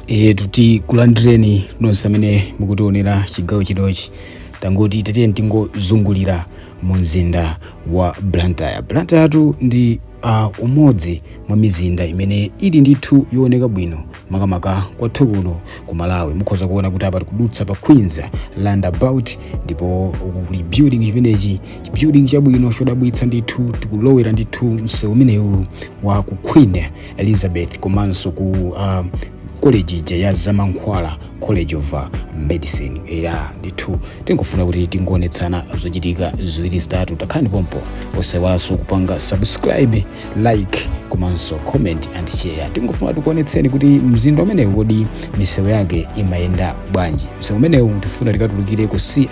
etu tikulandireni nonse amene mukutionera chigawo chinochi tangoti tatiyeni tingozungulira mu mzinda wa blantyre blantyre tu ndi uh, umodzi mwa mizinda imene ili ndithu yooneka bwino makamaka kwathu kuno ku malawi mukhoza kuona kuti apa tikudutsa pa queens roundabout ndipo uku kuli building chimenechi chibuilding chabwino chodabwitsa ndithu tikulowera ndithu msewu umenewu wa ku queen elizabeth komanso ku uh, college ija ya zamankhwala college of uh, medicine ya ndithu tingofuna kuti tingoonetsana zochitika ziwiri zitatu takhalani pompo osayiwalanso kupanga subscribe like komanso comment and share tingofuna tikuonetseni kuti mzinda umenewu kodi misewu yake imayenda bwanji msewu umenewu tifuna tikatulukire ku ci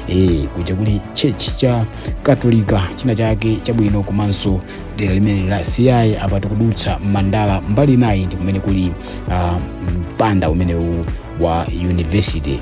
e, kuja kuli church cha katolika china chake chabwino komanso dera limene la ci apa tikudutsa mandala mbali inayi ndi kumene kuli uh, mpanda umenewu wa university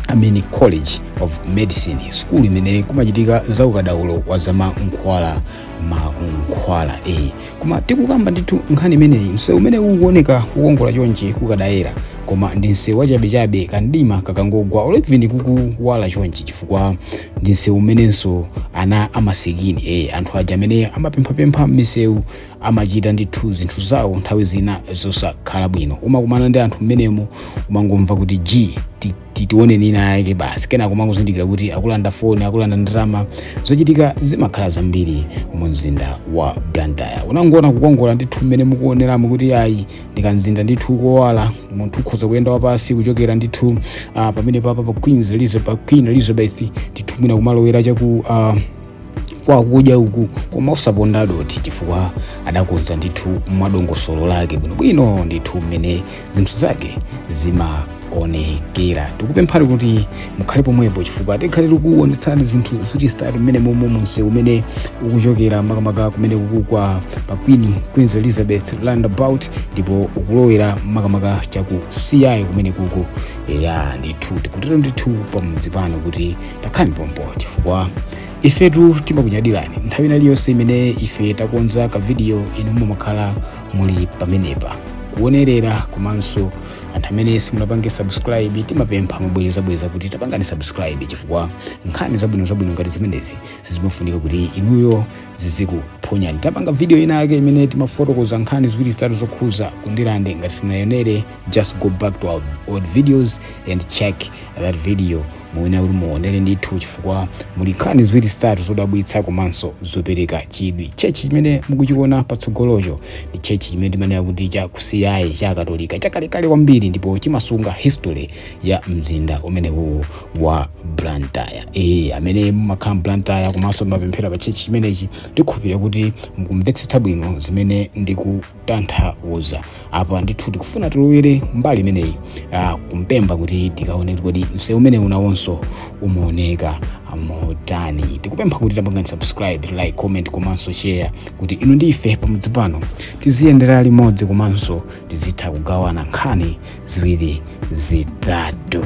amene college of medicine school imene kumachitika za ukadaulo wa zamankhwala mankhwala e koma tikukamba ndithu nkhani imeneyi msewu umene ukuoneka kukongola chonchi kukadayera koma ndi msewu wachabechabe kamdima kakangogwa olebvini kukuwala chonchi chifukwa ndi msewu umenenso ana amasikini e anthu aja amene amapemphapempha m'misewu amachita ndithu zinthu zawo nthawi zina zosakhala bwino umakumana ndi anthu mmenemo umangomva kuti g ti- ti- tione ina yake basi kenako umangozindikira kuti akulanda foni akulanda ndalama zochitika zimakhala zambiri mu mzinda wa blantyre umangoona kukongola ndithu mmene mukuoneramo kuti ayi ndi kamzinda ndithu kowala munthu ukhoza kuyenda wapansi kuchokera ndithu uh, pamene papa pa queens elizabeth queen elizabeth ndithu mwina kumalowera chaku uh, kwa kudya uku koma osaponda dothi chifukwa adakonza ndithu mwadongosolo lake bwinobwino ndithu mmene zinthu zake zima onekera tikupemphani kuti mukhale pomwepo chifukwa tikhale tikuonetsani zinthu zochitika mmene momwe msewu umene ukuchokera makamaka kumenekuku kwa pa queen queens elizabeth roundabout ndipo ukulowera makamaka chaku ci kumenekuku eya ndithu tikutero ndithu pamudzi pano kuti takhalani pompo chifukwa ifetu timakunyadirani nthawi ina iliyonse imene ife takonza kavidiyo inu mumakhala muli pamenepa kuonerera komanso anthu amene simunapange subscribe timapempha mobwerezabwereza kuti tapangani subscribe chifukwa nkhani zabwino zabwino ngati zimenezi sizimafunika kuti inuyo zizikuphonyani tapanga video ina yake imene timafotokoza nkhani ziwiri zitatu zokhuza ku ndirande ngati simunayionere just go back to our old videos and check that video Muyenera kuti muonere ndithu chifukwa muli nkhani ziwiri zitatu zodabwitsa komanso zopereka chidwi. Tchechi chimene mukuchiona patsogolocho ndi tchechi chimene timanena kuti cha ku CI cha Akatolika chakalekale kwambiri ndipo chimasunga history ya mzinda umenewuwu wa Blantyre. Ee, amene mumakhala m'Blantyre komanso mumapemphera pa tchechi chimenechi, ndikhulupirira kuti mukumvetsetsa bwino zimene ndiku tanthauza apa ndithu tikufuna tilowere mbali imeneyi ah, kumpemba kuti tikaone kuti kodi msewu umene unawonso umaoneka motani tikupempha kuti tapangani subscribe like comment komanso share kuti inu ndi ife pamodzi pano tiziyendera limodzi komanso tizitha kugawana nkhani ziwiri zitatu